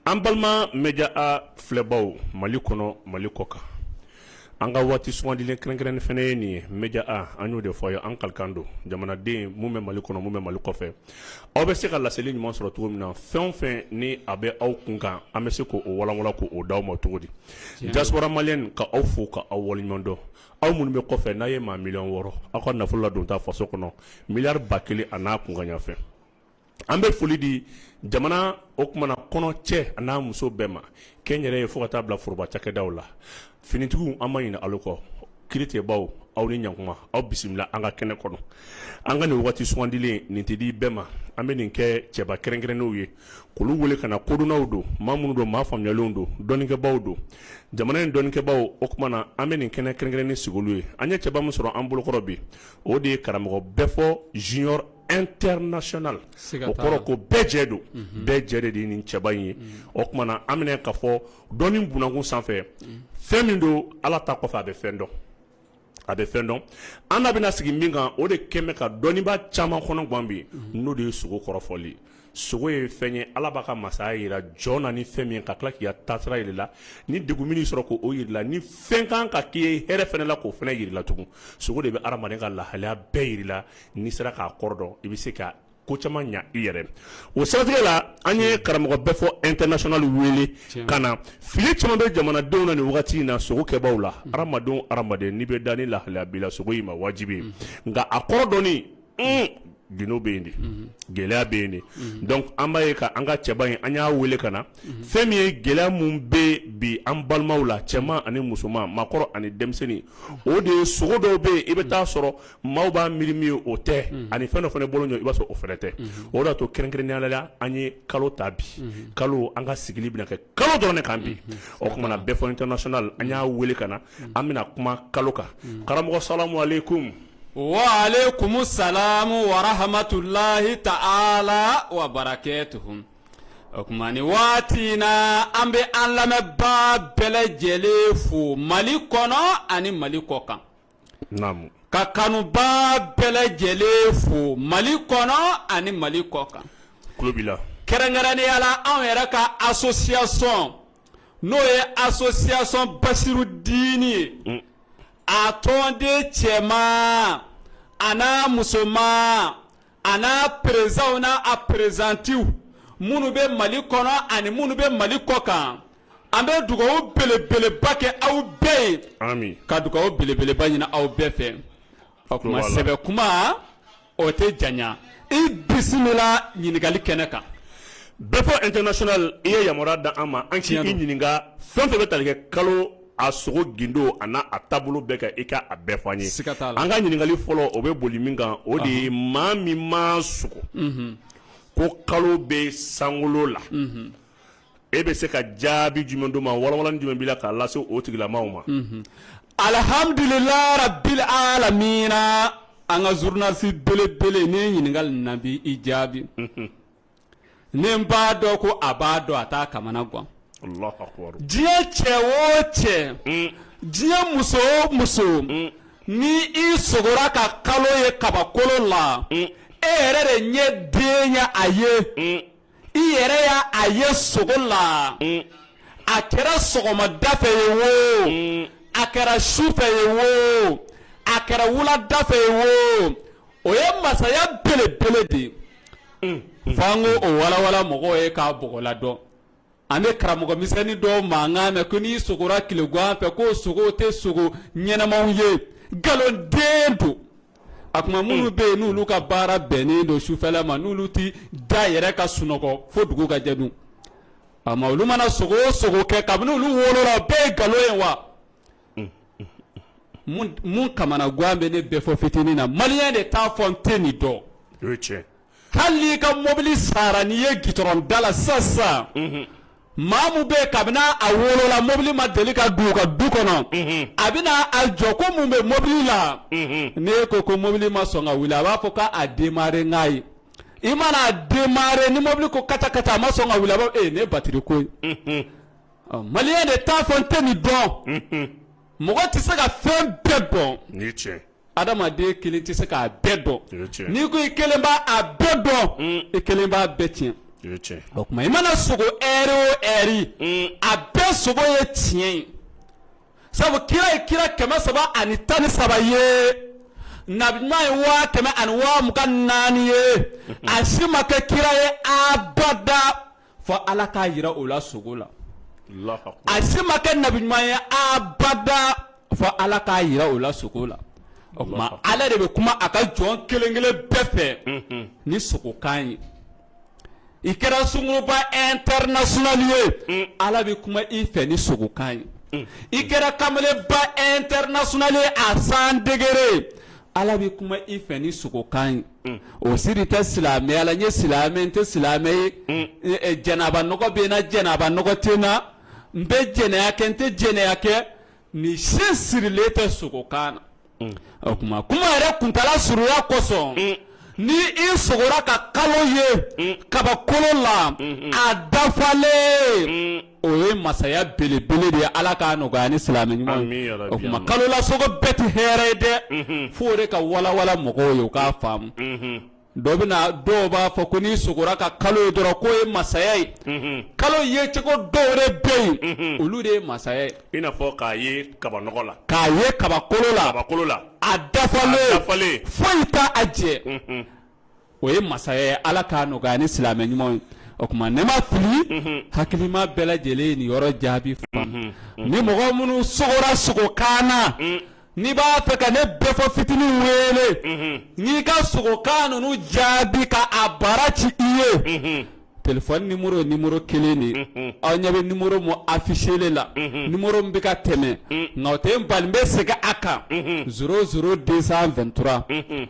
an balima media a filɛbaw mali kɔnɔ mali kɔ kan an ka waati sugandilen kɛrɛnkɛrɛnnen fana ye nin ye media a an y'o de fɔ aw ye an kalikan don jamanaden minnu bɛ mali kɔnɔ minnu bɛ mali kɔfɛ aw bɛ se ka laseli ɲuman sɔrɔ cogo min na fɛn o fɛn ni a bɛ aw kun kan an bɛ se k' o walanwalan k' o d'aw ma cogo di diaspora malienne ka aw fo ka aw waleɲumandɔn aw minnu bɛ kɔfɛ n'a ye maa miliyɔn wɔɔrɔ aw ka nafolo ladonta faso kɔnɔ miliyari ba kelen a n'a kunkanɲafɛ an bɛ foli di jamana o kumana kɔnɔ cɛ a n'a muso bɛɛ ma kɛnyɛrɛye fo ka taa bila foroba cakɛdaw la finitigiw an ma ɲinɛ aw kɔ kiiritigɛbaw aw ni ɲkuma aw bisimila an ka kɛnɛ kɔnɔ an ka nin waati sugandilen nin tɛ di bɛɛ ma an bɛ nin kɛ cɛba kɛrɛnkɛrɛnnenw ye k'olu wele ka na kodɔnnaw don maa minnu don maa faamuyalenw don dɔnnikɛbaw don jamana in dɔnnikɛbaw o kumana an bɛ nin kɛnɛ kɛrɛnkɛrɛnnen sigi olu ye an ye cɛba min sɔrɔ an bolokɔrɔ bi o de ye karamɔgɔ bɛɛ fɔ junior international o kɔrɔ ko bɛɛ jɛ don bɛɛ jɛ de de nin cɛba in ye o kumana an bɛna k'a fɔ dɔnni b'a kun sanfɛ fɛn min don ala ta kɔfɛ a bɛ fɛn dɔn a bɛ fɛn dɔn an bɛna sigi min kan o de kɛlen bɛ ka dɔnnibaa caman kɔnɔgan bi n'o de ye sogo kɔrɔfɔli sogo ye fɛn ye ala b'a ka masaya jira jɔn na ni fɛn min ye ka tila k'i taasira jira i la ni degun min b'i sɔrɔ k' o jira i la ni fɛn kan ka k'i ye hɛrɛ fana la k'o fana jira i la tugun sogo de bɛ hadamaden ka lahalaya bɛɛ jira i la n'i sera k'a kɔrɔ dɔn i bɛ se ka ko caman ɲɛ i yɛrɛ o siratigɛ la an ye karamɔgɔ bɛɛ fɔ international wele ka na fili caman bɛ jamanadenw na nin wagati in na sogo kɛbaw la hadamadenw hadamaden n'i bɛ da ni lahalaya b'i la sogo y'i ma wajibi ye nka a kɔrɔ dɔnni gundo bɛ yen de gɛlɛya bɛ yen de donc an b'a ye ka an ka cɛba in an y'a wele ka na fɛn min ye gɛlɛya minnu bɛ bi an balimaw la cɛman ani musoman maakɔrɔ ani denmisɛnnin o de ye sogo dɔw bɛ yen i bɛ taa sɔrɔ maaw b'a miiri min ye o tɛ ani fɛn dɔ fana bolo i b'a sɔrɔ o fana tɛ o de y'a to kɛrɛnkɛrɛnnenya la an ye kalo ta bi kalo an ka sigili bɛna kɛ kalo dɔrɔn de kan bi o kumana bɛɛ fɔ international an y'a wele ka na an bɛna kuma kalo kan karamɔgɔ salamu aleykum wa aleykum salam wa rahmatulahi ta'ala wa barakatuhu o kuma nin waati in na an bɛ an lamɛnbaa bɛɛ lajɛlen fo mali kɔnɔ ani mali kɔ kan ka kanubaa bɛɛ lajɛlen fo mali kɔnɔ ani mali kɔ kan kɛrɛnkɛrɛnnenya la anw yɛrɛ ka association n'o ye association basiru dini ye mm. a tɔnden cɛman a n'a musoman a n'a perezanw n'a a perezantiw minnu bɛ mali kɔnɔ ani minnu bɛ mali kɔ kan an bɛ dugawu belebeleba kɛ aw bɛɛ ye ka dugawu belebeleba ɲini aw bɛɛ fɛ o kuma sɛbɛ kuma o tɛ janya i bisimila ɲininkali kɛnɛ kan bɛɛ fɔ international i ye yamaruya da an ma an k'i ɲininka fɛn fɛn bɛ tali kɛ kalo a sogo gindo an'a taabolo bɛɛ kan i ka a bɛɛ fɔ an ye an ka ɲininkali fɔlɔ o bɛ boli min kan o de ye maa min ma sogo ko kalo bɛ sankolo la e bɛ se ka jaabi jumɛn d'o ma walawalani jumɛn b'i la k'a lase o tigilamaw ma alihamdulilayi rabili alamina an ka zurunalisi belebele ni ɲininkali na bi i jaabi ni n b'a dɔn ko a b'a dɔn a t'a kamana gan diɲɛ cɛ o cɛ mm. diɲɛ muso o muso mm. ni i sogora ka kalo ye kabakolo la mm. e yɛrɛ de ɲɛ den ye a ye i yɛrɛ y'a ye sogo la a kɛra sɔgɔmada fɛ ye wo a kɛra su fɛ ye wo a kɛra wulada fɛ ye wo O ye masaya belebele de ye f'an k'o walawala mɔgɔw ye k'a bɔgɔladɔn an bɛ karamɔgɔmisɛnnin dɔw mankan mɛn ko n'i sogora tilegan fɛ k'o sogow tɛ sogo ɲɛnamaw ye nkalonden don a kuma minnu bɛ yen n'olu ka baara bɛnnen don sufɛla ma n'olu tɛ da yɛrɛ ka sunɔgɔ fo dugu ka jɛ dun ama olu mana sogo o sogo kɛ kabini olu wolola o bɛɛ ye nkalon ye wa mun kamana gan bɛ ne bɛɛ fɔ fitinin na maliyɛn de t'a fɔ n tɛ nin dɔn tiɲɛ hali n'i ka mɔbili sara n'i ye gitɔrɔn da la sisan maa min bɛ yen kabini a wolola mɔbili ma deli ka don u ka du kɔnɔ a bɛna a jɔ ko mun bɛ mɔbili la n'i ko ko mɔbili ma sɔn ka wuli a b'a fɔ k'a démarrer n k'a ye i mana a démarrer ni mɔbili ko kata kata a ma sɔn ka wuli a b'a ne batiri ko Maliyɛn de t'a fɔ n tɛ nin dɔn mɔgɔ tɛ se ka fɛn bɛɛ dɔn nin tiɲɛ adamaden kelen tɛ se k'a bɛɛ dɔn n'i ko i kelen b'a bɛɛ dɔn i kelen b'a bɛɛ tiɲɛ o kuma i mana sogo ɛri o ɛri a bɛɛ sogo ye tiɲɛ ye sabu kira ye kira kɛmɛ saba ani tan ni saba ye nabi ɲuman ye waa kɛmɛ ani waa mugan ni naani ye a si ma kɛ kira ye abada fɔ ala k'a jira o la sogo la a si ma kɛ nabi ɲuman ye abada fɔ ala k'a jira o la sogo la o kuma ala de bɛ kuma a ka jɔn kelen kelen bɛɛ fɛ mhm. ni sogokan ye i kɛra sunguruba international ye mm. ala bɛ kuma i fɛ ni sogokan ye mm. i kɛra kamalenba international ye a san degere Ala bɛ kuma i fɛ ni sogokan ye mm. o siri tɛ silamɛya la n ye silamɛ ye n tɛ silamɛ ye mm. eh, eh, janaba nɔgɔ bɛ n na janaba nɔgɔ tɛ n na n bɛ jɛnɛya kɛ n tɛ jɛnɛya kɛ nin si sirilen tɛ sogokan na mm. o kuma kuma yɛrɛ kuntala surunya kosɔn ni i sogora ka kalo ye kabakolo la a dafalen o ye masaya belebele de ye ala k'a nɔgɔya ni silamɛ ɲuman ye Ami yarabi, o tuma ami. kalo la sogo bɛɛ tɛ hɛrɛ ye dɛ fo o de ka walawala mɔgɔw ye u k'a faamu dɔ bɛ na dɔw b'a fɔ ko n'i sogora ka kalo ye dɔrɔn k'o ye masaya ye kalo ye cogo dɔw de bɛ yen olu de ye masaya ye i n'a fɔ k'a ye kabanɔgɔ la k'a ye kabakolo la kabakolo la a dafalen dafalen foyi t'a a jɛ o ye masaya ye ala k'a nɔgɔya ni silamɛ ɲuman ye o tuma ne ma fili hakilima bɛɛ lajɛlen ye nin yɔrɔ jaabi faamu ni mɔgɔ minnu sogora sogokan na n'i b'a fɛ ka ne Bɛfɔ fitinin wele n'i ka sogokan ninnu jaabi ka a baara ci i ye téléphone numéro ye numéro kelen de aw ɲɛ bɛ numéro min affichélen la numéro min bɛ ka tɛmɛ nka o tɛ n bali n bɛ segin a kan 00 223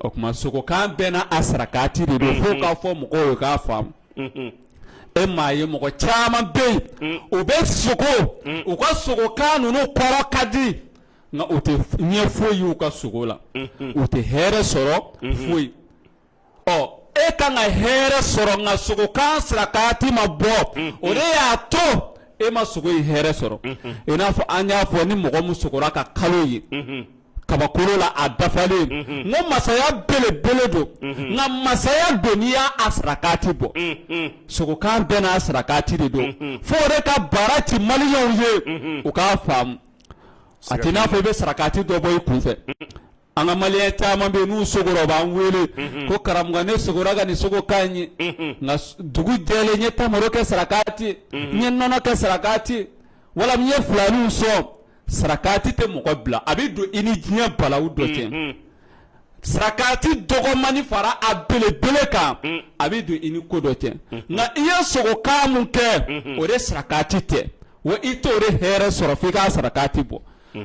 O tuma sogokan bɛɛ n'a a sarakati de don fo k'a fɔ mɔgɔw ye k'a faamu, unhun, e m'a ye mɔgɔ caman bɛ yen, un, u bɛ sogo, un, u ka sogokan ninnu kɔrɔ ka di nka u tɛ ɲɛ foyi ye u ka sogo la, unhun, u tɛ hɛrɛ sɔrɔ, unhun, foyi, ɔ e ka kan ka hɛrɛ sɔrɔ nka sogokan sarakati ma bɔ, unhun, o de y'a to e ma sogo in hɛrɛ sɔrɔ, unhun, i n'a fɔ an y'a fɔ ni mɔgɔ min sogora ka kalo ye, unhun kabakolo la a dafalen n ko masaya belebele don nka masaya don n'i y'a sarakati bɔ sogokan bɛɛ n'a sarakati de don fo o de ka baara ci maliyɛnw ye u k'a faamu a tɛ n'a fɔ i bɛ sarakati dɔ bɔ i kun fɛ an ka maliyɛn caman bɛ yen n'u sogora u b'an wele ko karamɔgɔ ne sogora ka nin sogokan ye nka dugu jɛlen n ye tamaro kɛ sarakati n ye nɔnɔ kɛ sarakati wala n ye filaniw sɔn sarakati tɛ mɔgɔ bila a bɛ don i ni diɲɛ balaw dɔ cɛ mm-hmm. sarakati dɔgɔmani fara a belebele kan mm. a bɛ don i ni ko dɔ cɛ mm-hmm. nka i ye sogokan min kɛ mm-hmm. o de sarakati tɛ wa i t'o de hɛrɛ sɔrɔ f'i k'a sarakati bɔ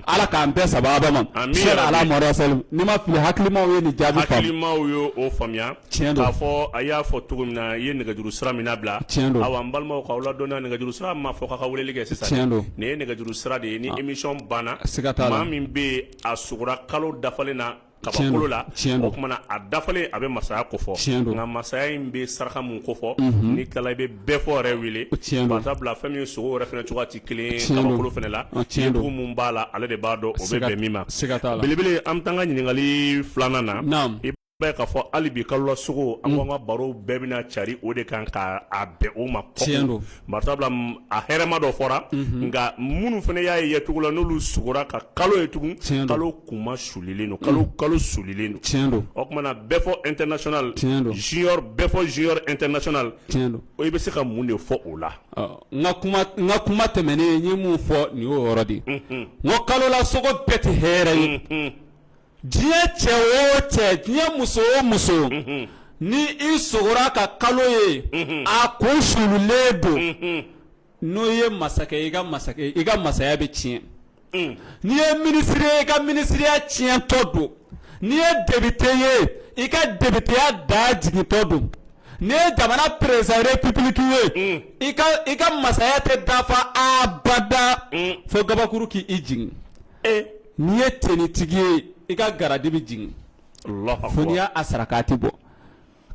ala k'an bɛɛ sababa ma sali ala Mohamed wa salim n'i ma fili hakilimaw ye nin jaabi faamu hakilimaw ye o faamuya tiɲɛ don, k'a fɔ a y'a fɔ cogo min na i ye nɛgɛjuru sira min labila, tiɲɛ don, awa n balimaw k'aw ladɔnniya nɛgɛjuru sira ma fɔ k'a ka weleli kɛ sisan, tiɲɛ don, nin ye nɛgɛjuru sira de ye ni ah. émission banna, siga t'a la, maa min bɛ yen a sogora kalo dafalen na kabakolo la o kumana a dafalen a bɛ masaya kofɔ nka masaya in bɛ saraka mun kofɔ mhm. n'i tilala i bɛ bɛɛ fɔ yɛrɛ wele par exemple fɛn min sogo yɛrɛ fana cogoya tɛ kelen ye kabakolo fana la dugu mun b'a la ale de b'a dɔn o bɛ bɛn min ma belebele an bɛ taa an ka ɲininkali filanan na b'a k'a fɔ hali bi kalola sogo an ko an ka barow bɛɛ bɛna cari o de kan ka a bɛn o ma tiɲɛ don par exemple a hɛrɛma dɔ fɔra nka minnu fana y'a ye sogo la n'olu sugora ka kalo ye tugun tiɲɛ kalo kunma sulilen don kalo kalo sulilen don tiɲɛ don o kumana bɛɛ fɔ international tiɲɛ don junior bɛɛ fɔ junior international tiɲɛ don o i bɛ se ka mun de fɔ o la n ka kuma tɛmɛnen ye mun fɔ nin y'o yɔrɔ de n ko kalola sogo bɛɛ tɛ hɛrɛ ye Diɲɛ cɛ o cɛ diɲɛ muso o muso ni i sogora ka kalo ye a kun sulilen don n'i ye masakɛ i ka masakɛ i ka masaya bɛ tiɲɛ n'i ye minisiri ye i ka minisiriya tiɲɛtɔ don n'i ye debite ye i ka debiteya da jigintɔ don n'i ye jamana président république ye i ka masaya tɛ dafa abada fo gabakuru k'i jigin n'i ye tenitigi ye i ka garadi bɛ jigin fo n'i y'a sarakati bɔ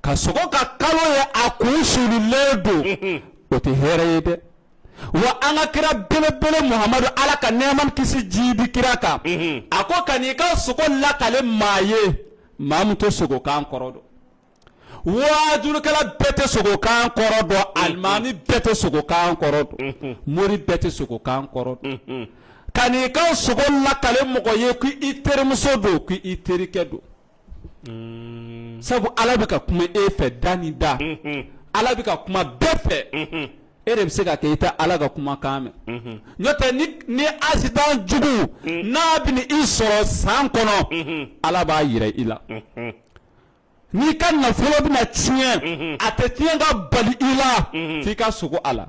ka sogo ka kalo ye a kun sulilen don o tɛ hɛrɛ ye dɛ wa an ka kira belebele muhamadu ala ka nɛɛma kisi jiidi kira kan a ko kan'i ka sogo lakale maa ye maa min tɛ sogokan kɔrɔ dɔn wajurukɛla bɛɛ tɛ sogokan kɔrɔ dɔn alimami bɛɛ tɛ sogokan kɔrɔ dɔn mori bɛɛ tɛ sogokan kɔrɔ dɔn kan'i ka sogo lakale mɔgɔ ye ko i terimuso don ko i terikɛ don sabu ala bɛ ka kuma e fɛ da ni da ala bɛ ka kuma bɛɛ fɛ e de bɛ se ka kɛ i tɛ ala ka kumakan mɛn n'o tɛ ni asitan jugu n'a bɛn'i sɔrɔ san kɔnɔ ala b'a yira i la N'i ka nafolo bɛna tiɲɛ a tɛ tiɲɛ ka bali i la f'i ka sogo a la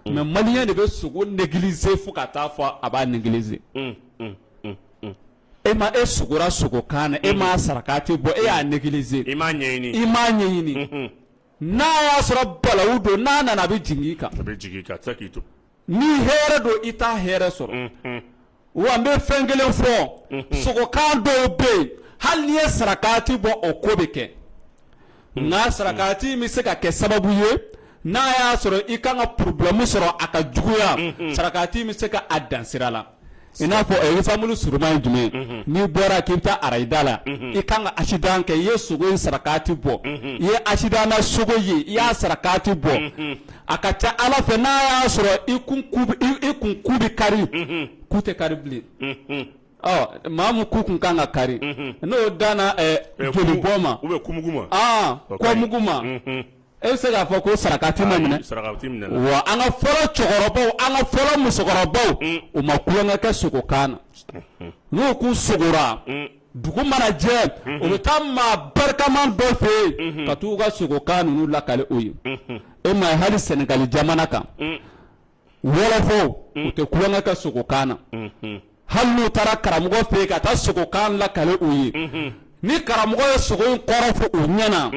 mɛ maliyɛn de bɛ sogo négliger fo ka taa fɔ a b'a négliger e ma e sogora sogokan na e ma sarakati bɔ e y'a négliger i m'a ɲɛɲini N'a y'a sɔrɔ balawu don n'a nana a bɛ jigin i kan ni hɛrɛ don i t'a hɛrɛ sɔrɔ wa n bɛ fɛn kelen fɔ sogokan dɔw bɛ yen hali n'i ye sarakati bɔ o ko bɛ kɛ nka sarakati bɛ se ka kɛ sababu ye n'a y'a sɔrɔ i ka kan ka problème sɔrɔ a ka juguya sarakati bɛ se ka a dansira la I n'a fɔ exemple surunman ye jumɛn ye, n'i bɔra k'i bɛ taa arayida la, unhun, i ka kan ka accident kɛ i ye sogo in sarakati bɔ, unhun, i ye accident na sogo ye i y'a sarakati bɔ, unhun, a ka ca Ala fɛ n'a y'a sɔrɔ i kun i kun ku bɛ kari, unhun, ku tɛ kari bilen, unhun, ɔ maa min ku tun ka kan ka kari, unhun, n'o danna joli bɔn ma ou bien kɔmugu ma, ɔn kɔmugu ma, unhun E bɛ se k'a fɔ ko sarakati ma minɛ wa an ka fɔlɔ cɛkɔrɔbaw an ka fɔlɔ musokɔrɔbaw u ma tulonkɛ kɛ sogokan na n'u k'u sogora dugu mana jɛ u bɛ taa maa barikama dɔ fɛ yen ka taa u ka sogokan ninnu lakale u ye e ma hali Senegali jamana kan Wɔlɔfɔw u tɛ tulonkɛ kɛ sogokan na hali n'u taara karamɔgɔ fɛ yen ka taa sogokan lakale u ye ni karamɔgɔ ye sogo in kɔrɔ fɔ u ɲɛ na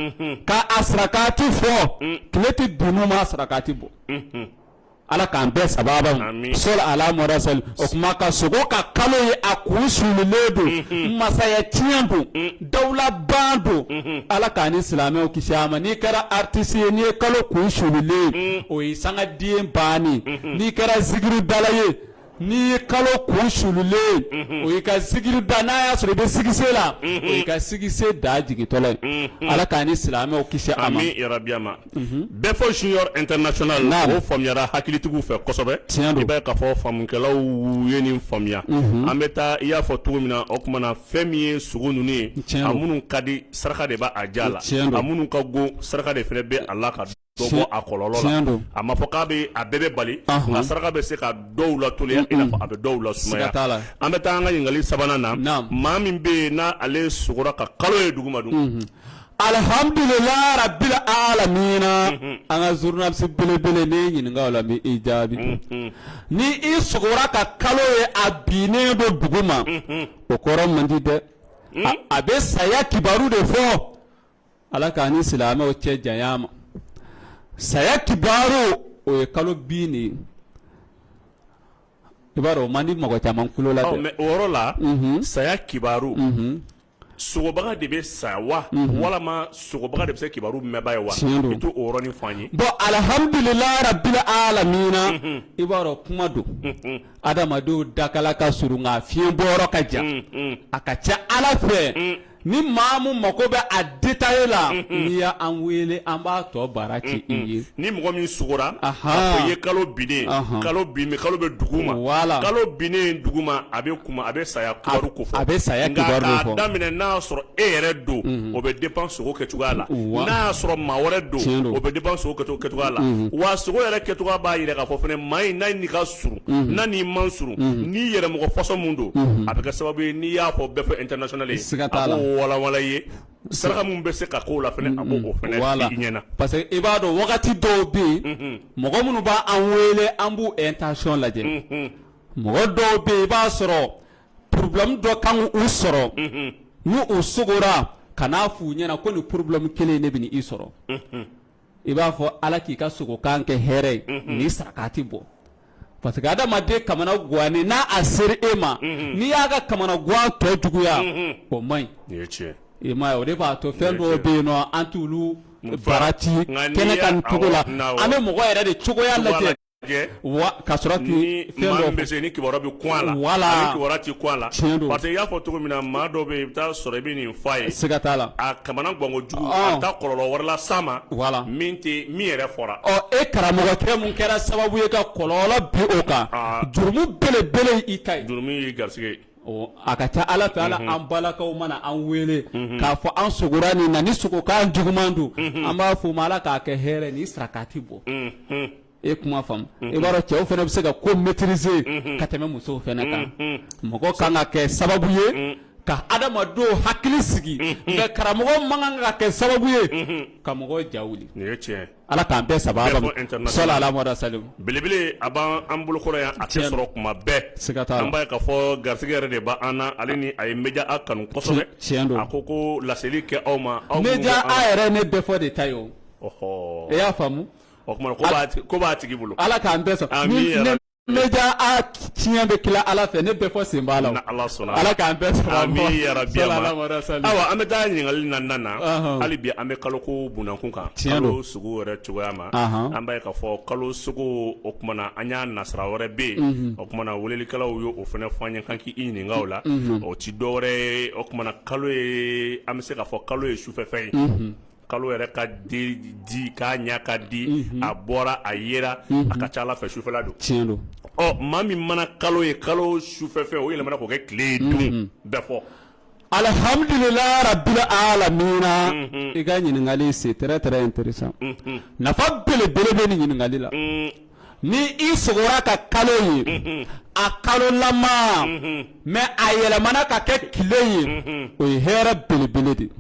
k' a sarakati fɔ tile tɛ bin n'u ma a sarakati bɔ ala k'an bɛɛ saba so ala o tuma ka sogo ka kalo ye a kun sulilen don masaya tiɲɛ don dawulaban don ala k'an ni silamɛw kisi a ma n'i kɛra artiste ye n'i ye kalo kun sulilen o ye sanga de bannen n'i kɛra zikiridala ye n'i ye kalo kun sulilen o y'i ka zikiri da n'a y'a sɔrɔ i bɛ succès la o y'i ka succès da jigintɔ ye ala k'an ni silamɛw kisi a ma bɛɛ fɔ junior international naam o faamuyara hakilitigiw fɛ kosɛbɛ tiɲɛ don i b'a ye k'a fɔ faamukɛlaw ye nin faamuya an bɛ taa i y'a fɔ cogo min na o tuma na fɛn min ye sogo ninnu ye a minnu ka di saraka de b'a ja la a minnu ka go saraka de fana bɛ a la ka dɔ bɔ a kɔlɔlɔ la a ma fɔ k'a bɛ a bɛɛ bɛɛ bali nka saraka bɛ se ka dɔw lateliya i n'a fɔ a bɛ dɔw lasumaya an bɛ taa an ka ɲininkali sabanan na maa min bɛ yen n'ale sogora ka kalo ye duguma dun Alihamdulila rabili alamina an ka journaliste belebele ne ɲininka o la n bɛ i jaabi ni i sogora ka kalo ye a binnen don dugu ma o kɔrɔ man di dɛ a bɛ saya kibaru de fɔ ala k'an ni silamɛw cɛ janya a ma saya kibaru o ye kalo bin de ye i b'a dɔn o man di mɔgɔ caman tulo la dɛ mais o yɔrɔ la saya kibaru sogobaga de bɛ sa wa walima sogobaga de bɛ saya kibaru mɛnba ye wa i t'o yɔrɔnin fɔ an ye bɔn alihamdulila rabili alamina i b'a dɔn kuma don adamadenw dakala ka surun nka fiɲɛ bɔyɔrɔ ka jan a ka ca ala fɛ ni maa min mako bɛ a détail la n'i y' an wele an b'a tɔ baara kɛ i ye ni mɔgɔ min sogora i ye kalo binnen kalo bin kalo bɛ dugu ma kalo binnen dugu ma a a bɛ saya kibaru ko fɔ a bɛ saya kibaru fɔ nka k'a daminɛ n'a y'a sɔrɔ e yɛrɛ don o bɛ dépend sogo kɛ cogoya la n'a y'a sɔrɔ maa wɛrɛ don o bɛ dépend sogo kɛ cogoya la wa sogo yɛrɛ kɛ cogoya b'a yira k'a fɔ fana maa in n'a nii ka surun n'a nii man surun n'i yɛrɛ mɔgɔ façon min don a bɛ kɛ sababu ye n'i y'a fɔ bɛɛ fɔ international ye a k'o walawala ye saraka min bɛ se ka k'o la fana a b'o fana f'i ɲɛna parce que i b'a dɔn wagati dɔw bɛ yen mɔgɔ minnu b'an wele an b'u intention lajɛ Mɔgɔ dɔw bɛ i b'a sɔrɔ problème dɔ kan u sɔrɔ n'u sogora ka n'a f'u ɲɛna ko nin problème kelen de bɛ i sɔrɔ i b'a fɔ ala k'i ka sogokan kɛ hɛrɛ ye ni sarakati bɔ parce que adamaden kamana gannen n'a sera e ma n'i y'a ka kamana gan tɔ juguya o man ɲi i ma o de b'a to fɛn dɔ bɛ yen nɔn an t'olu barati kɛnɛ kan cogo la an bɛ mɔgɔ yɛrɛ de cogoya lajɛ ka sɔrɔ ni fɛn dɔ bɛ se ni kibaruya bɛ kun a la wala kibaruya tɛ kun a la parce que i y'a fɔ cogo min na maa dɔ bɛ i bɛ taa sɔrɔ i bɛ nin fɔ a ye siga t'a la a kamana ganko jugu a taa kɔlɔlɔ wɛrɛ las'a ma wala min tɛ min yɛrɛ fɔra ɔ e karamɔgɔkɛ mun kɛra sababu ye ka kɔlɔlɔ bin o kan jurumu belebele y'i ta ye jurumu y'i garisɛgɛ ye A ka ca a la fɛ ala an balakaw mana an weele k'a fɔ an sogora nin na ni sogokan juguman don an b'a f'o ma ala k'a kɛ hɛrɛ ni sarakati bɔ e kuma faamu i b'a dɔn cɛw fana bɛ se ka ko maîtriser ka tɛmɛ musow fana kan mɔgɔ kan ka kɛ sababu ye ka adamadenw hakili sigi mais karamɔgɔ man kan ka kɛ sababu ye ka mɔgɔ ja Ala k'an bɛɛ saba ala salimu belebele a b'an bolokɔrɔ yan a tɛ sɔrɔ kuma bɛɛ siga t'a la an b'a ye k'a fɔ garisɛgɛ yɛrɛ de b' an na ale ni a ye média a kanu kosɛbɛ tiɲɛ don a ko ko laseli kɛ aw ma aw média yɛrɛ ne bɛɛ fɔ de ta ye o e y'a faamu o tuma ko b'a tigi bolo ala k'an bɛɛ Média a tiɲɛ bɛ tila ala fɛ ne bɛɛ fɔ sen b'a la ala k'an bɛɛ sɔn amiina yarabi awa an bɛ taa ɲininkali na na hali bi an bɛ kalo ko bunakun kan kalo sogo wɛrɛ cogoya ma an b'a ye k'a fɔ kalo sogo o kumana an y'a nasira wɛrɛ bɛ yen o kumana welelikɛlaw ye o fana fɔ an ye kan k'i ɲininka o la o tɛ dɔ wɛrɛ ye o kumana kalo ye an bɛ se k'a fɔ kalo ye sufɛfɛn ye kalo yɛrɛ ka di k'a ɲɛ ka di a bɔra a yera a ka ca a la fɛ sufɛla don tiɲɛ don ɔ maa min mana kalo ye kalo sufɛ fɛ o yɛlɛmana k'o kɛ tile ye dun bɛɛ fɔ alihamdulilayi rabili alamina i ka ɲininkali c'est très très intéressant nafa belebele bɛ nin ɲininkali la ni i sogora ka kalo ye a kalolama mais a yɛlɛmana ka kɛ tile ye o ye hɛrɛ belebele de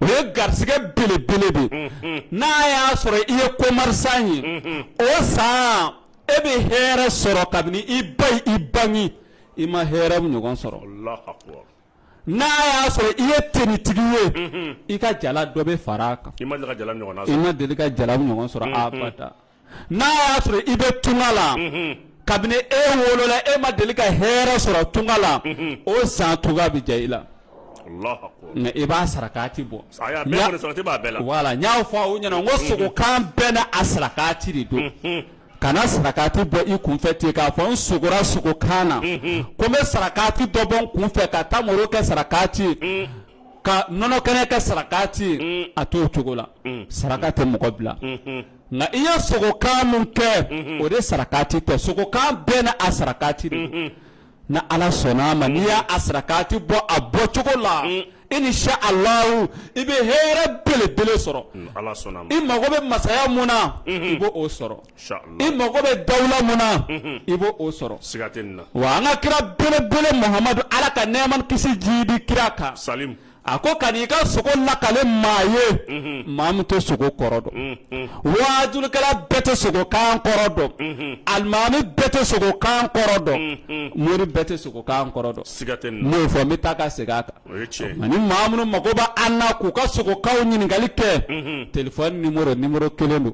O ye garisɛgɛ belebele de ye n'a y'a sɔrɔ i ye commerçant ye o san e bɛ hɛrɛ sɔrɔ kabini i ba y'i bange i ma hɛrɛ ɲɔgɔn sɔrɔ n'a y'a sɔrɔ i ye tenitigi ye i ka jala dɔ bɛ fara a kan i ma deli ka jala ɲɔgɔn sɔrɔ n'a y'a sɔrɔ i bɛ tunga la kabini e wolola e ma deli ka hɛrɛ sɔrɔ tunga la o san tunga bɛ diya i la nka i b'a sarakati bɔ wala n y'a fɔ aw ɲɛna n ko sogokan bɛɛ n'a sarakati de don kana sarakati bɔ i kunfɛ ten k'a fɔ n sogora sogokan na ko n bɛ sarakati dɔ bɔ n kunfɛ ka tamaro kɛ sarakati ye ka nɔnɔ kɛnɛ kɛ sarakati ye a t'o cogo la saraka tɛ mɔgɔ bila nka i ye sogokan min kɛ o de sarakati tɛ sogokan bɛɛ n'a sarakati de n'ala sɔnna a ma n'i y'a sarakati bɔ a bɔ cogo la inisalahu i bɛ hɛrɛ belebele sɔrɔ i mago bɛ masaya min na i b' o sɔrɔ i mago bɛ dawula min na i b' o sɔrɔ siga wa an ka kira belebele muhamadu ala ka nɛɛma ni kisi jiidi kira kan sa a ko kana i ka sogo lakale maa ye maa min tɛ sogo kɔrɔ dɔn wajulikɛla bɛɛ tɛ sogokan kɔrɔ dɔn alimami bɛɛ tɛ sogokan kɔrɔ dɔn mori bɛɛ tɛ sogokan kɔrɔ dɔn siga n b'o fɔ n bɛ taa ka segin a kan ani maa minnu mago bɛ an na k'u ka sogokanw ɲininkali kɛ telefɔni numéro kelen don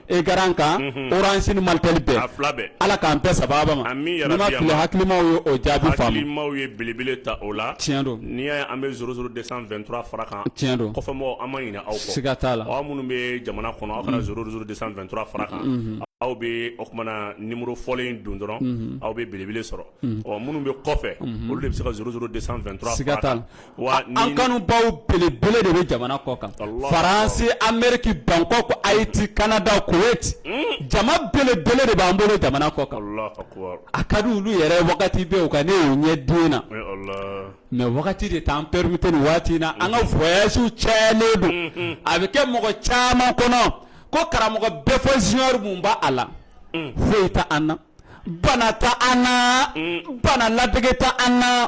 écran kan orange ni malitel bɛɛ a fila bɛɛ Ala k'an bɛn sababu ma amin yarabi n'i ma fili hakilimaw ye o jaabi faamu hakilimaw ye belebele ta o la tiɲɛ don n'i y'a ye an bɛ 00223 fara kan tiɲɛ don kɔfɛmɔgɔw an ma ɲinɛ aw kɔ siga t'a la aw minnu bɛ jamana kɔnɔ aw kana 00223 fara kan aw bɛ o tuma na numéro fɔlen in don dɔrɔn aw bɛ belebele sɔrɔ ɔ minnu bɛ kɔfɛ olu de bɛ se ka 00223 fara a kan siga t'a la. wa an kanubaw belebele de bɛ jamana kɔ kan faransi ameriki bangkok ayiti kanada koweyiti hmm. jama belebele de b'an bolo jamana kɔ kan a ka di olu yɛrɛ wagati bɛɛ u ka ne y'u ɲɛ den na mɛ wagati de t'an perimete nin waati in na an ka voyasiw cayalen don hmm, hmm. a bɛ kɛ mɔgɔ caman kɔnɔ ko karamɔgɔ bɛfɔ junior mun b'a la foyi t'an na bana t'an na bana ladege t'an na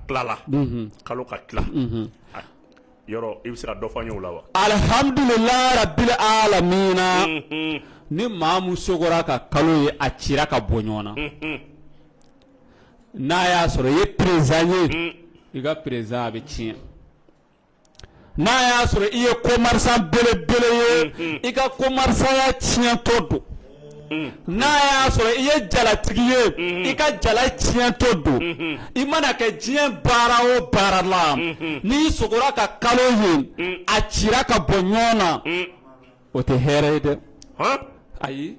tilala kalo ka tila yɔrɔ i bɛ se ka dɔ fɔ o la wa alihamdulilayi rabili alamina ni maa min sogora ka kalo ye a cira ka bɔ ɲɔgɔn na n'a y'a sɔrɔ i ye perezidan ye i ka perezidanya bɛ tiɲɛ n'a y'a sɔrɔ i ye commerçant belebele ye mm-hmm. i ka commerçantya tiɲɛtɔ don mm-hmm. n'a y'a sɔrɔ i ye jalatigi ye mm-hmm. i ka jala tiɲɛtɔ don i mana kɛ diɲɛ baara o baara la n'i sogora ka kalo ye a cira ka bɔ ɲɔgɔn na o tɛ hɛrɛ ye dɛ ayi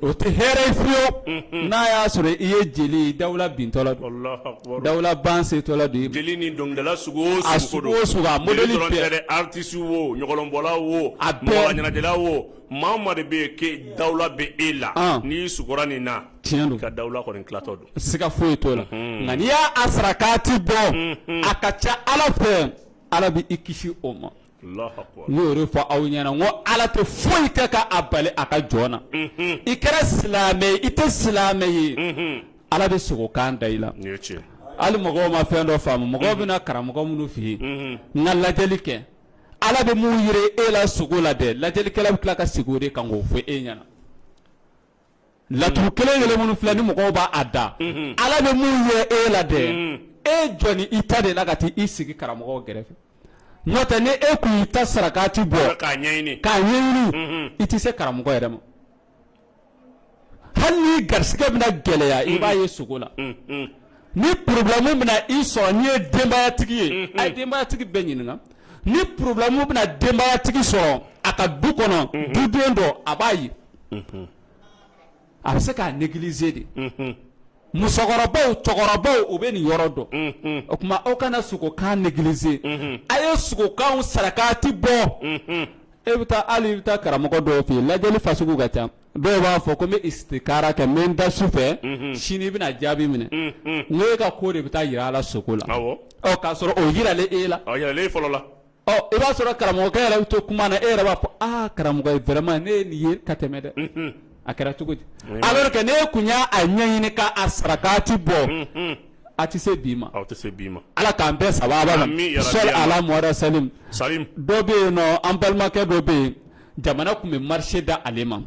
O tɛ hɛrɛ ye fiyewu, unhun, n'a y'a sɔrɔ i ye jeli ye dawula bintɔ la don, Alahu akibaru, dawula ban setɔ la don, jeli ni dɔnkilidala sugu o sugu, a sugu o sugu, a modeli bɛɛ, jeli dɔrɔn tɛ dɛ, artiste o, ɲɔgɔlɔnbɔla o, a bɛɛ, mɔgɔɲɛnajɛla o, maa o maa de bɛ yen que dawula bɛ e la, an, n'i sugora nin na, tiɲɛ don, i ka dawula kɔni tilatɔ don, siga foyi t'o la, unhun, nka n'i y'a sarakati bɔ, unhun, a ka ca Ala fɛ Ala bɛ i kisi o ma n y'o de fɔ aw ɲɛna n ko Ala tɛ foyi kɛ ka a bali a ka jɔn na i kɛra silamɛ ye i tɛ silamɛ ye Ala bɛ sogo kan da i la hali mɔgɔw ma fɛn dɔ faamu mɔgɔw bɛ na karamɔgɔ minnu fɛ yen n ka lajɛli kɛ Ala bɛ mun yira e la sogo la dɛ lajɛlikɛla bɛ tila ka segin o de kan k'o fɔ e ɲɛna. laturu kelen kelen minnu filɛ nin mɔgɔw b'a da ala bɛ mun yira e la dɛ e jɔnnen i ta de la ka taa i sigi karamɔgɔw gɛrɛfɛ n'o tɛ ni e kun y'i ta sarakati bɔ k'a ɲɛɲini k'a ɲɛɲini i tɛ se karamɔgɔ yɛrɛ ma hali ni i garisigɛ bɛna gɛlɛya i b'a ye sogo la Ni problème bɛna i sɔrɔ n'i ye denbayatigi ye a ye denbayatigi bɛɛ ɲininka ni problème bɛna denbayatigi sɔrɔ a ka du kɔnɔ duden dɔ a b'a ye a bɛ se k'a négliger de musokɔrɔbaw cɛkɔrɔbaw u bɛ nin yɔrɔ dɔn o tuma aw kana sogokan négliger a ye sogokanw sarakati bɔ e bɛ taa hali i bɛ taa karamɔgɔ dɔw fɛ yen lajɛli fasugu ka ca dɔw b'a fɔ ko n bɛ istikara kɛ n bɛ n da su fɛ sini i bɛna jaabi minɛ n ko e ka ko de bɛ taa yira a la sogo la k'a sɔrɔ o yiralen e la fɔlɔ la i b'a sɔrɔ karamɔgɔkɛ yɛrɛ bɛ to kuma na e yɛrɛ b'a fɔ aa karamɔgɔ vraiment ne ye nin ye ka tɛmɛ dɛ a kɛra cogo di alors que ne kun y'a ɲɛɲini k'a sarakati bɔ a tɛ se bi ma aw tɛ se bi ma ala k'an bɛɛ saba alahuma sali dɔ bɛ yen nɔn an balimakɛ dɔ bɛ yen jamana tun bɛ marché da ale ma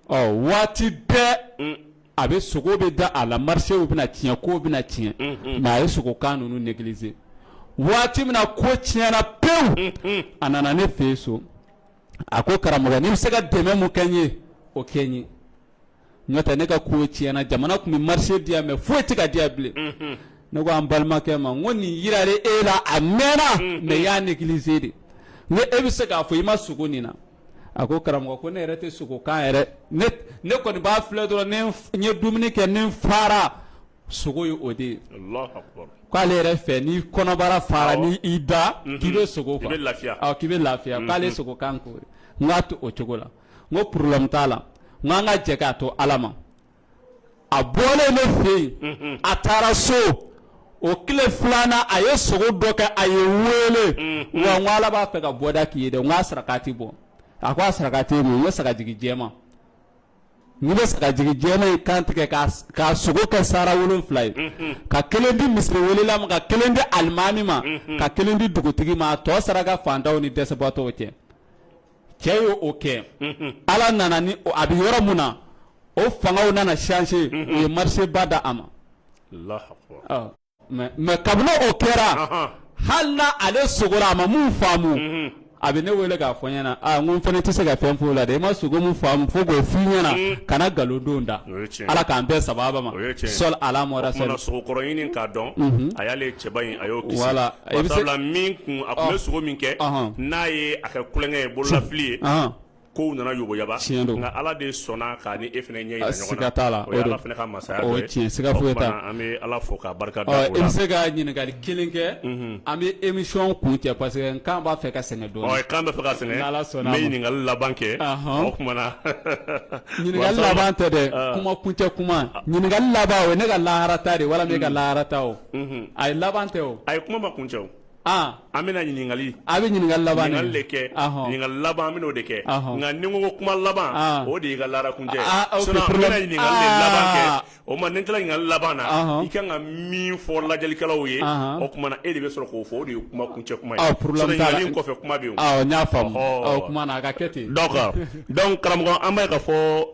waati bɛɛ a bɛ sogo bɛ da a la marchéw bɛna tiɲɛ kow bɛna tiɲɛ mais a ye sogokan ninnu négliger waati min na ko tiɲɛna pewu a nana ne fɛ so a ko karamɔgɔ n'i bɛ se ka dɛmɛ mun kɛ n ye o kɛ n ye n'o tɛ ne ka ko tiɲɛna jamana tun bɛ marché diya mais foyi tɛ ka diya bilen ne ko an balimakɛ ma n ko nin yirara e la a mɛnna mais i y'a négliger de n ko e bɛ se k'a fɔ i ma sogo nin na a ko karamɔgɔ ko ne yɛrɛ tɛ sogokan yɛrɛ ne ne kɔni b'a filɛ dɔrɔn ni n ye dumuni kɛ ni n fara sogo ye o de ye k'ale yɛrɛ fɛ ni kɔnɔbara fara ni i da k'i bɛ sogo k'i bɛ lafiya k'ale sogokan k'o ye n k'a to o cogo la n ko problème t'a la n ko an ka jɛ k'a to Ala ma a bɔlen ne fɛ yen a taara so o tile filanan a ye sogo dɔ kɛ a ye wele wa n ko Ala b'a fɛ ka bɔda k'i ye dɛ n ko a sarakati bɔ a ko a sarakati ye mun ye n ko sagajigi jɛman i bɛ sagajigi jɛman in kan tigɛ k'a s- k'a sogo kɛ sara wolonfila ye ka kelen di misiri welela ma ka kelen di alimami ma ka kelen di dugutigi ma a tɔ saraka fantanw ni dɛsɛbaatɔw cɛ cɛ ye o kɛ ala nana ni a bɛ yɔrɔ min na o fangaw nana changer u ye marché ba da a ma mais kabini o kɛra hali n'ale sogora a ma min faamu a bɛ ne wele k'a fɔ n ɲɛna n ko n fana tɛ se ka fɛn f'o la dɛ i ma sogo min faamu fo k'o f'i ɲɛna kana nkalon dɔ da ala k'an bɛɛ saba ma sɔ ala dɔn a y'ale cɛba in a y'o wala A bɛ sabula min kun a tun bɛ sogo min kɛ n'a ye a kɛ kulonkɛ ye bololafili ye ko nana yoboyaba tiɲɛ don nka ala de sɔnna k'a ni e fɛnɛ ɲɛ yira ɲɔgɔn la fɛnɛ ka masaya an bɛ ala fo k'a barika da e bɛ se ka ɲininkali kelen kɛ an bɛ émission kuncɛ parce que kan b'a fɛ ka sɛgɛn dɔɔni kan bɛ fɛ ka sɛgɛn n'ala sɔnna ɲininkali laban kɛ o tuma na ɲininkali laban tɛ dɛ kuma kuncɛ kuma ɲininkali laban o ye ne ka lahara ta de ye wala e ka lahara ta o a ye laban tɛ o a ye kuma ma kuncɛ o an bɛna ɲininkali a bɛ ɲininkali laban de kɛ ɲininkali laban an bɛna o de kɛ nka ni n ko kuma laban o de y'i ka lahara kuncɛ ɲininkali o ma ni n tilala ɲininkali laban na i ka kan ka min fɔ lajɛlikɛlaw ye o tuma na e de bɛ sɔrɔ k'o fɔ o de ye kuma kuncɛ kuma kɔfɛ kuma bɛ yen a ka kɛ ten karamɔgɔ an b'a ye k'a fɔ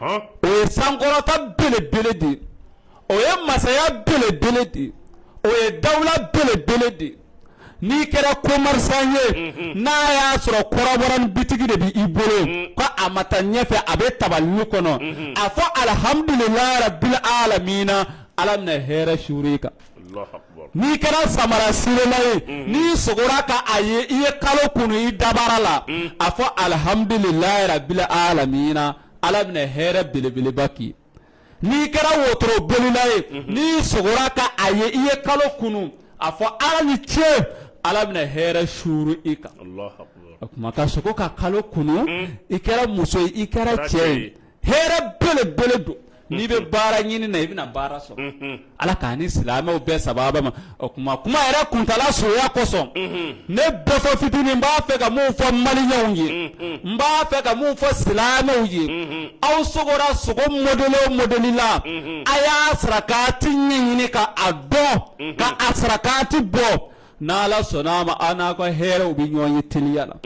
o ye sankɔrɔta belebele de o ye masaya belebele de o ye dawula belebele de n'i kɛra kɔmɛrisan ye n'a y'a sɔrɔ kɔrɔbɔrɔ bitigi de bɛ i bolo ko a ma taa ɲɛfɛ a bɛ tabalinin kɔnɔ a fɔ alihamdulilayi rabili alamina ala bɛna hɛrɛ suuru i kan n'i kɛra samara sirela ye n'i sogora ka a ye i ye kalo kunu i dabara la a fɔ alihamdulilayi rabili alamina ala bɛna hɛrɛ belebeleba k'i n'i kɛra wotoro bolila ye n'i sogora ka a ye i ye kalo kunu a fɔ ala ni ce ala bɛna hɛrɛ suuru i kan o tuma ka sogo ka kalo kunu i kɛra muso ye i kɛra cɛ ye hɛrɛ belebele don n'i bɛ baara ɲini na i bɛna baara sɔrɔ ala k'an ni silamɛw bɛɛ sababa ma o kuma kuma yɛrɛ kuntaala soya kosɔn ne bɛfɔ fitinin n b'a fɛ ka mun fɔ maliyɛnw ye n b'a fɛ ka mun fɔ silamɛw ye aw sogora sogo modɛli o modɛli la a y'a sarakati ɲɛɲini ka a dɔn ka a sarakati bɔ N' ala sɔnna a ma an n'a ka hɛrɛw bɛ ɲɔgɔn ye teliya la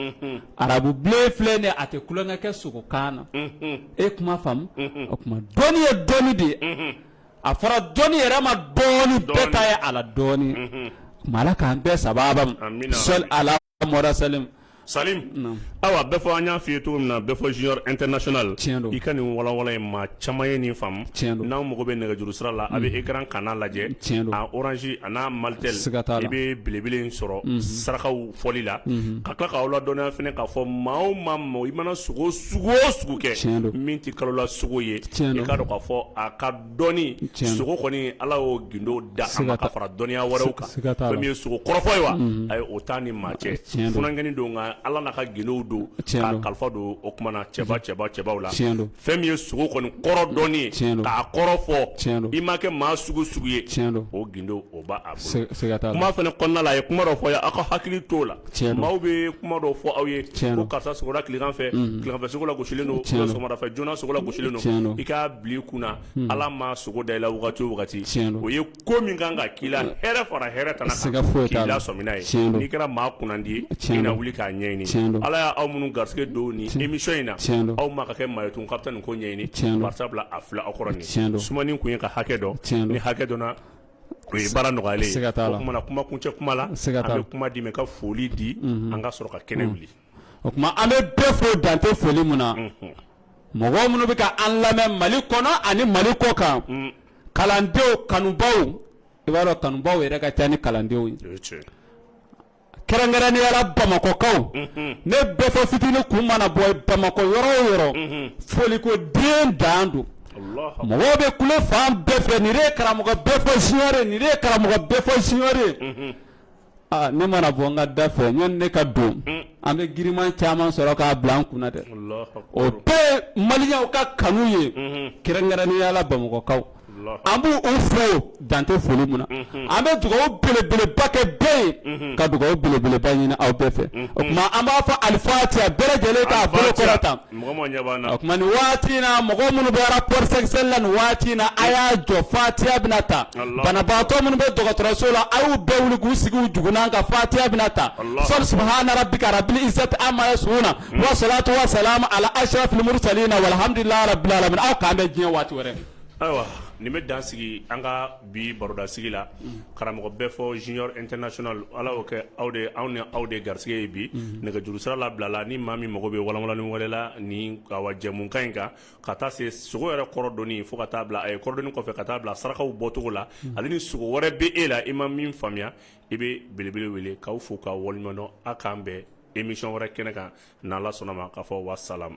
arabu bilen filɛ nin ye a tɛ tulon kɛ sogo kanna e kuma faamu o tuma dɔnni ye dɔnni de ye a fɔra dɔnni yɛrɛ ma dɔɔnin bɛɛ ta ye a la dɔɔnin tuma ala k'an bɛɛ sababa ma sɔli ala Mɔhamadi salim Salim awa Bɛfɔ an y'a f'i ye cogo min na Bɛfɔ junior international tiɲɛ don i ka nin walawala ye maa caman ye nin faamu tiɲɛ don n'aw mago bɛ nɛgɛjuru sira la a bɛ ekaran kanna lajɛ tiɲɛ don oranzi a n'a malitɛli siga t'a la i bɛ belebele in sɔrɔ sarakaw fɔli la ka tila k'aw ladɔnniya fana k'a fɔ maa o maa ma i mana sogo sugu o sugu kɛ tiɲɛ don min tɛ kalola sogo ye tiɲɛ don i k'a dɔn k'a fɔ a ka dɔnni sogo kɔni Ala y'o gindo da a ma ka fara dɔnniya wɛrɛw kan siga t'a la fɛn min ye sogo kɔrɔfɔ ye wa unhun ayi o t'a ni maa cɛ tiɲɛ don funankɛnin don nka Ala n'a ka gindow don tiɲɛ don k'a kalifa don o tuma na cɛba cɛba cɛbaw la tiɲɛ don fɛn min ye sogo kɔni kɔrɔ dɔnni ye tiɲɛ don k'a kɔrɔ fɔ tiɲɛ don i ma kɛ maa sugu sugu ye tiɲɛ don o gindo o b'a a bolo siga siga t'a la kuma fɛnɛ kɔnɔna la a ye kuma dɔ fɔ a' ye a' ka hakili t'o la Maaw bɛ kuma dɔw fɔ aw ye karisa tilefɛ fɛ i ka kun ala ma sogo da i la wagati o ye ko min kan ka k'i la fara hɛrɛ kana se ka foyi k'i la sɔmina n'i kɛra maa kundi ye tiɲɛ na wuli k'a ɲɛɲini ala y' aw minnu garisɛgɛ don ni nimi in na aw ma ka kɛ maa tun ka taa nin ko ɲɛɲini tiɲɛ sabula a fila aw kɔrɔ tiɲɛ don sumanin tun ye ka hakɛ dɔn ni hakɛ dɔn O ye baara nɔgɔyalen ye o tumana kuma kuncɛ kuma la an bɛ kuma d'i ma ka foli di an ka sɔrɔ ka kɛnɛ wuli o tuma an bɛ bɛɛ fo dan tɛ foli min na mɔgɔ minnu bɛ ka an lamɛn Mali kɔnɔ ani Mali kɔkan kalandenw kanubaaw i b'a dɔn kanubaaw yɛrɛ ka ca ni kalandenw ye. kɛrɛnkɛrɛnnenyala bamakɔkaw mhm. ne bɛfɔ fitini kun mana bɔ bamakɔ yɔrɔ o yɔrɔ mhm. foliko den dan don mɔgɔw bɛ kulo fan bɛɛ fɛ nin de ye karamɔgɔ bɛfɔ junior nin de ye karamɔgɔ bɛfɔ junior mhm. ah, ne mana bɔ n ka da fɛ yanni ne ka don mm. an bɛ giriman caman sɔrɔ k'a bila an kunna dɛ o bɛɛ ye maliyɛnw ka kanu ye kɛrɛnkɛrɛnnenyala bamakɔkaw an b'u fo dan tɛ foli min na an bɛ dugawu belebeleba kɛ bɛɛ ye ka dugawu belebeleba ɲini aw bɛɛ fɛ o tuma an b'a fɔ alifatiya bɛɛ lajɛlen k'a bolo kɔrɔta mɔgɔ ma ɲɛ b'an na o tuma nin waati in na mɔgɔ minnu bɛ rapport sexuel la nin waati in na a y'a jɔ fatiya bɛna ta banabaatɔ minnu bɛ dɔgɔtɔrɔso la a y'u bɛɛ wuli k'u sigi u jugunan kan fatiya bɛna ta sɔli subahana rabika rabili izati ama yasifuna wasalaatu wasalaamu ala asirafili murusalina walahamudulila rabili alamina aw k'an bɛn diɲɛ waati wɛrɛ Ayiwa nin bɛ dan sigi an ka bi barodasigi la karamɔgɔ bɛfɔ junior international ala y'o kɛ aw de anw ni aw de garisɛgɛ ye bi nɛgɛjuru sira labilala ni maa min mago bɛ walanwalanni wɛrɛ la ni awa jɛmukan in kan ka taa se sogo yɛrɛ kɔrɔdɔnni fo ka taa bila a ye kɔrɔdɔnni kɔfɛ ka taa bila sarakaw bɔcogo la ani ni sogo wɛrɛ bɛ e la i ma min faamuya i bɛ belebele wele k'aw fo k'aw waleɲumandɔn aw k'an bɛn émission wɛrɛ kɛnɛ kan n'ala sɔnna ma ka fɔ wasalamu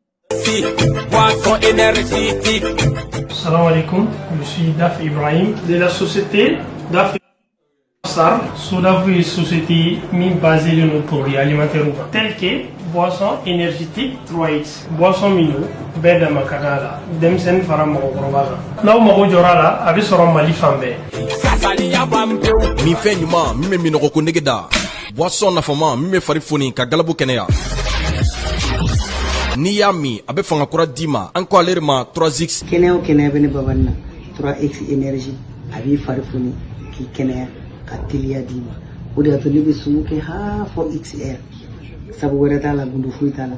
Salam alaikum, je suis Daf Ibrahim de la société Daf SARL, Sodaf société min basée de nos produits alimentaires tels que boisson énergétique 3X, boisson mino, bɛɛ dama ka d'a la denmisɛnnin fara mɔgɔkɔrɔba kan n'aw mago jɔra a la a bɛ sɔrɔ mali fan bɛɛ. minfɛn ɲuman min bɛ minnɔgɔ ko nege da Boisson nafama min bɛ fari foni ka galabu kɛnɛya. N'i y'a min a bɛ fanga kura d'i ma an ko ale de ma 3X. Kɛnɛya o kɛnɛya bɛ ne Babani na 3X énergie a b'i fari foni k'i kɛnɛya ka teliya d'i ma o de y'a to ne bɛ sumu kɛ haa fo X heure sabu wɛrɛ t'a la gundo foyi t'a la.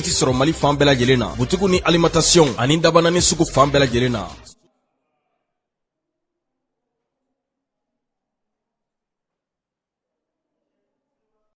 sɔrɔ mali fan bɛɛ lajɛlen na butigi ni alimantasiyɔn ani dabanani sugu fan bɛɛ lajɛlen na